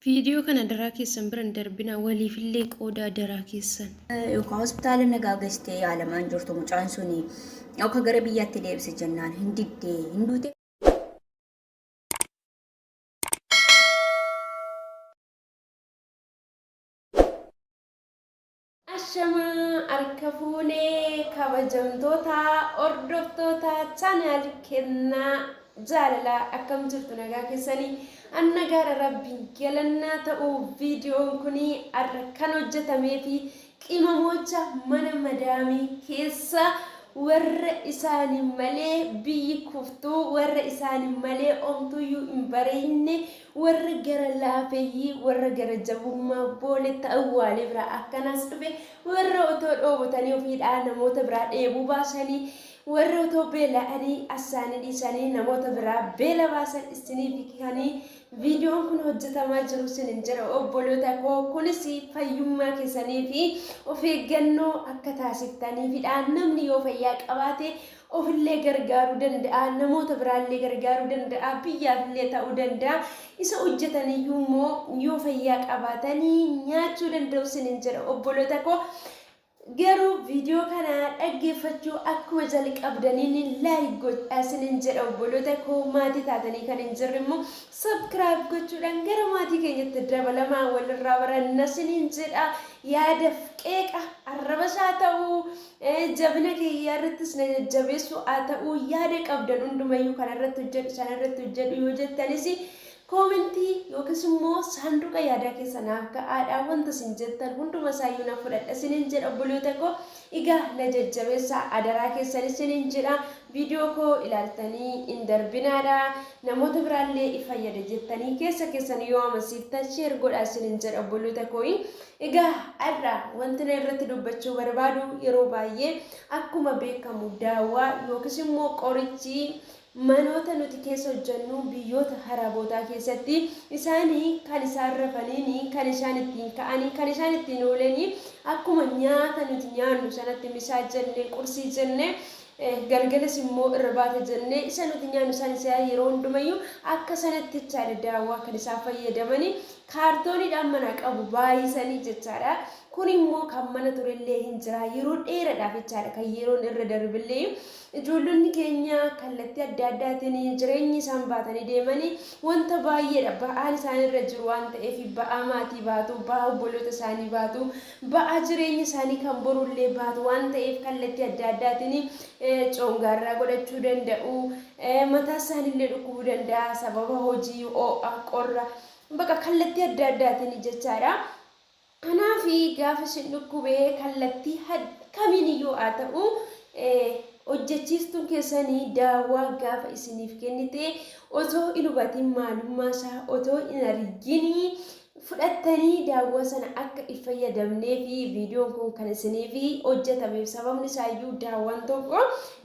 Video kana adaraa keessan bira hin darbinaa waliifillee qoodaa adaraa keessan. Yookaan hospitaala nagaa geessitee yaalamaa hin jirtu mucaan suni yookaan gara biyyaatti deebise jennaan hin diddee hin duute. Ashama arka fuune kabajamtoota hordoftoota channel kenna jaalala akkam jirtu nagaa keessanii an nagaadha rabbiin galannaa ta'u viidiyoon kuni arra kan hojjetamee fi qimamoocha mana madaamii keessa warra isaani malee biyyi kuftuu warra isaani malee omtuyyuu hin bareeyne Warra gara laafeyyii, warra gara jabummaa booletti awwaalee biraa akkanaas dhufe, warra otoo dhoobotanii ofiidhaa namoota biraa dheebuu baasanii, warra otoo beela'anii asaanii dhiisanii namoota biraa beela baasan isiniifi kanii viidiyoon kun hojjetamaa jiru sinin jedha obboloota koo kunis fayyummaa keessaniifi of eeggannoo akka taasiftaniifidha namni yoo fayyaa qabaate Ofillee gargaaruu danda'a, namoota biraallee gargaaruu danda'a, biyyaafillee ta'uu danda'a. Isa hojjetaniyyuu immoo yoo fayyaa qabaatanii nyaachuu danda'u isiniin jedha obboloota koo. Garuu viidiyoo kana dhaggeeffachuu akkuma jalqabdaniin laayik godhaa isiniin jedha obboloota koo maatii taatanii kan hin jirre immoo sabkiraayib gochuudhaan gara maatii keenyatti dabalamaa walirraa baranna isiniin jedha yaadaf qeeqa arrabas haa ta'u Ee jabina kee hiyyaa irrattis na jajjabeessuu haa ta'u yaada qabdan hundumayyuu kana irratti hojjedhu sana irratti hojjedhu yoo jettanis koomentii yookiis immoo saanduqa yaadaa keessa naaf ka'aadha wanta isin jettan hunduma isaayyuu na fudhadha isinin jedha obboloota koo egaa na jajjabeessaa adaraa keessan isinin jedha viidiyoo koo ilaaltanii hin darbinaadha namoota biraallee ifayyada jettanii keessa keessan yoo amansiiftan sheer godhaa isinin jedha obboloota koo Egaa har'a wanti na irratti dubbachuu barbaadu yeroo baay'ee akkuma beekamu daawaa yookiis immoo qorichi manoota nuti keessa hojjennu biyyoota harabootaa keessatti isaanii kan isaan rafaniini kan isaan ittiin ka'anii kan isaan ittiin oolanii akkuma nyaata nuti nyaannu sanatti misaa jenne qursii jenne eh, galgalas immoo irbaata jenne isa nuti nyaannu isaan isaa yeroo hundumayyuu akka sanatti jechaadha daawaa kan isaan fayyadamanii Kaartooniidhaan manaa qabu baay'isanii jechaadha. Kun immoo kan mana turellee hin jira. Yeroo dheeradhaaf jechaadha kan yeroon irra darbillee ijoollonni keenya kallattii adda addaatiin jireenya isaan baatanii deemanii wanta baay'eedha. Ba'aan isaan irra jiru waan ta'eef ba'aa maatii baatu, ba'aa obboloota isaanii baatu, ba'aa jireenya isaanii kan borullee baatu waan ta'eef kallattii adda addaatiin coongaarraa godhachuu danda'u. Mataa isaaniillee dhukkubuu danda'a sababa hojii, ho'a, qorra. Baqa kallattii adda addaatiin jechaadha. Kanaaf gaafa isin dhukkubee kallattii kamiiniyyuu haa ta'u hojjechiistuun keessanii daawaa gaafa isiniif kennite otoo hin hubatiin maalummaa isaa otoo hin argin fudhattanii daawwaa sana akka hin fayyadamnee fi viidiyoon kun kan isiniif hojjetameef sababni isaayyuu daawwaan tokko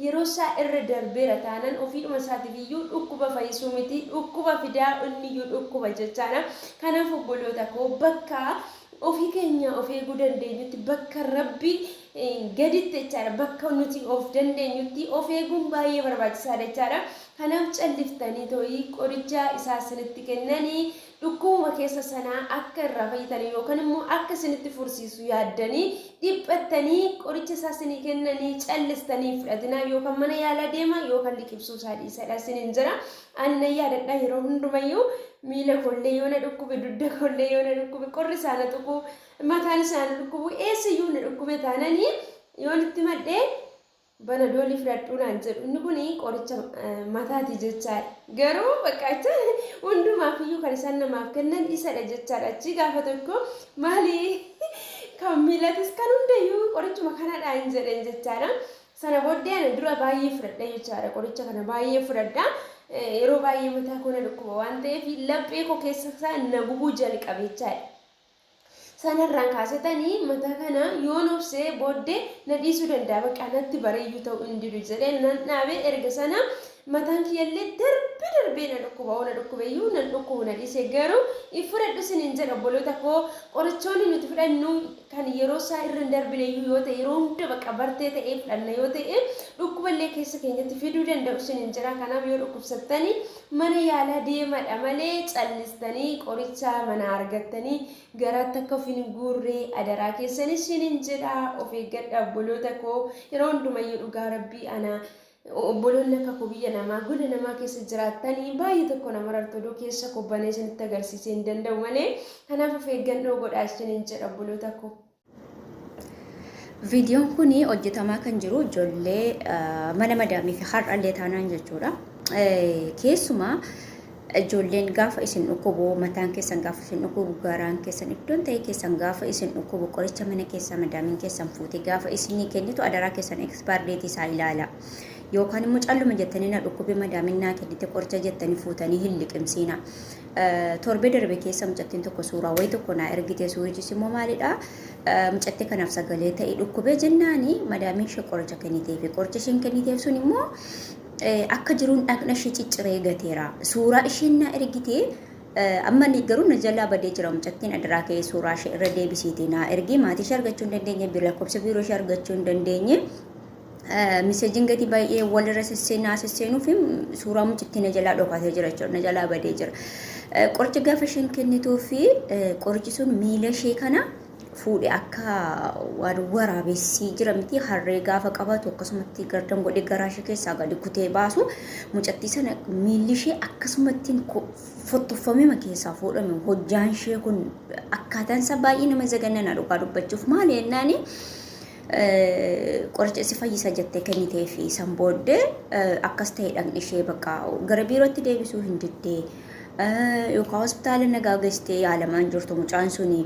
Yeroo isaa irra darbeera taanan ofiidhuma isaatiif iyyuu dhukkuba fayyisuu miti dhukkuba fidaa inni iyyuu dhukkuba jechaadha. Kanaaf obboloota koo bakka ofii keenya of eeguu dandeenyutti bakka rabbi gaditti jechaadha bakka nuti of dandeenyutti of eeguun baay'ee barbaachisaadha jechaadha. Kanaaf calliftanii too'ii qoricha isaa isinitti kennanii Dhukkubuma keessan sanaa akka irraa fayyitan yookan immoo akka isinitti fursiisu yaaddanii dhiphattanii qoricha isaa isinii kennanii callistanii hin fudhatinaa yookan mana yaalaa deemaa yookan liqibsuu isaa dhiisadha isiniin jira. Ani nan yaadadha yeroo hundumayyuu miila koollee yoo na dhukkube dudda koollee yoo na dhukkube qorri isaa na tuqu mataan isaa na dhukkubu eessayyuu na dhukkube taananii yoon itti madhee Panadol ni fudhadhuu naan jedhu inni kun qoricha mataati jechaadha. Garuu bakka acha hundumaaf iyyuu kan isaan namaaf kennan isadha jechaadha. Achii gaafa tokko maali kan miilatis kan hundayyuu qorichuma kanadha hin jedheen jechaadha. Sana booddee ana dura baay'ee fudhadha jechaadha qoricha kana baay'ee fudhadha. Yeroo baay'ee mataa koo na dhukkuba waan ta'eef laphee koo keessa isaa na gubuu jalqabe jechaadha. sanarraan kaasetani mata kana yoon obse boodde na dhiisuu danda'a bakka natti bareeyyuu ta'uu hin didu jedhee nan dhaabe erga sana mataan kiyyallee darbee darbee na dhukkuba oo na dhukkubeyyuu nan dhukkubu na dhiise garuu hin fudhadhu sinin jedha obboloota koo qorichoonni nuti fudhannu kan yeroo isaa irra hin darbineyyuu yoo ta'e yeroo hunda bakka bartee ta'ee fudhanna yoo ta'e dhukkuballee keessa keenyatti fiduu danda'u sinin jedha kanaaf yoo dhukkubsattani Mana yaalaa deemadha malee callistanii qorichaa manaa argattanii garaatti akka of hin guurree adaraa keessan ishinin jedhaa of eeggadha obboloota koo yeroo hundumayyuu dhugaa rabbii ana obboloonni akka koo biyya namaa gola namaa keessa jiraattanii baay'ee tokko nama rartu odoo keessa koo banee isinitti agarsiisee hin danda'u malee kanaaf of eeggannoo godhaa ishinin jedha obboloota koo. Viidiyoon kun hojjetamaa kan jiru ijoollee mana madaamii fi har'allee taanaan jechuudha. Keessumaa ijoolleen gaafa isin dhukkubu mataan keessan gaafa isin dhukkubu garaan keessan iddoon ta'e keessan gaafa isin dhukkubu qoricha mana keessaa madaamiin keessan fuute gaafa isinii kennitu adaraa keessan expire date isaa ilaala. Yookaan immoo calluma jettanii na dhukkube madaamiin naa kennite qoricha jettanii fuutanii hin liqimsiina. Torbee darbe keessa mucattiin tokko suuraa wayii tokko naa ergite suurichis immoo maalidha mucatti kanaaf sagalee ta'e dhukkubee jennaani madaamiin ishee qoricha kenniteef qoricha isheen kenniteef sun immoo akka jiruun dhaqna ishee cicciree gateera suuraa isheen naa ergite amma ni garuu na jalaa badee jira mucattiin adiraa ka'ee suuraa ishee irra deebisiiti naa ergee maatii ishee argachuu hin dandeenye lakkoofsa biiroo ishee argachuu hin dandeenye Miseejiin gadi baay'ee walirra sisseenaa sisseenuuf suuraa mucittii na jalaa dhokatee jira jechuudha. Na jalaa badee jira. Qoricha gaafa isheen kennituu fi qorichi sun miila ishee kana fuudhe akka waan waraabessii jira miti harree gaafa qabatu akkasumatti gardan godhee garaa ishee keessaa gadi kutee baasu mucattii sana miilli ishee akkasumatti fottoffamima keessaa fuudhame hojjaan ishee kun akkaataan isaa baay'ee nama zagannana dhugaa dubbachuuf maali jennaani qoricha si fayyisa jettee kennitee fi san booddee akkas ta'e dhaqni ishee bakka gara biirootti deebisuu hin diddee yookaan hospitaala nagaa geessitee yaalamaa hin jirtu mucaan suni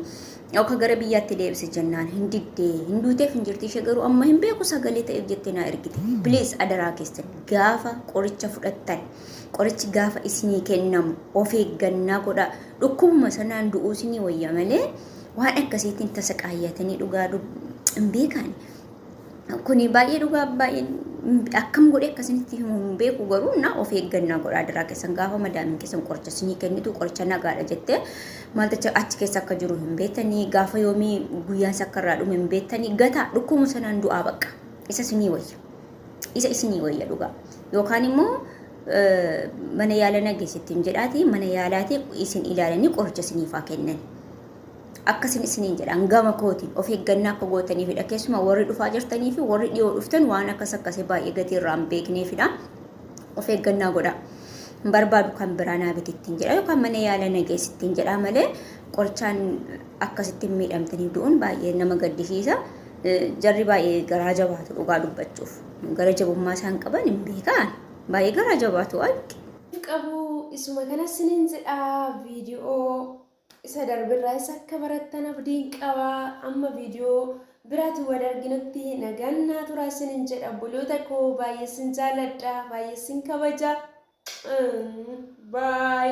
yookaan gara biyyaatti deebise jennaan hin diddee hin duuteef hin jirti ishee garuu amma hin beeku sagalee ta'eef jettee naa ergite please adaraa keessan gaafa qoricha fudhattan qorichi gaafa isinii kennamu of eeggannaa godhaa dhukkubuma sanaan du'uu isinii wayya malee. waan akkasiitiin tasa qaayyatanii dhugaa hin beekaani. Kuni baay'ee dhugaa baay'ee akkam godhee akkasinitti himu hin beeku garuu na of eeggannaa godhaa diraa keessan gaafa madaamin keessan qoricha sinii kennitu qoricha nagaadha jettee maalticha achi keessa akka jiru hin beektanii gaafa yoomii guyyaan isa akka irraa dhume hin beektanii gataa dhukkumu sanaan du'aa bakka isa sinii wayya isa isinii wayya dhugaa yookaan immoo mana yaala na geessittiin jedhaati mana yaalaati isin ilaalanii qoricha isiniif haa kennan. Akkasin isiniin jedhaan gama kootiin of eeggannaa akka gootaniifidha. Keessumaa warri dhufaa jirtanii fi warri dhiyoo dhuftan waan akkas akkasii baay'ee gatii irraa hin beekneefidha. Of eeggannaa godhaa. Hin barbaadu kan biraa naa bitittiin jedha yookaan mana yaala na geessittiin jedha malee qorichaan akkasitti miidhamtanii du'uun baay'ee nama gaddisiisa. Jarri baay'ee garaa jabaatu dhugaa dubbachuuf. Gara jabummaa isaan qaban hin beeka ani. Baay'ee garaa jabaatu alki. qabu isuma kana sinin jedha viidiyoo isa darbirraa isa akka barattan abdiin qaba amma viidiyoo biraati wal arginutti nagaan naa turaa sinin jedha obboloota koo baay'ee sin jaaladha baay'ee sin kabaja baay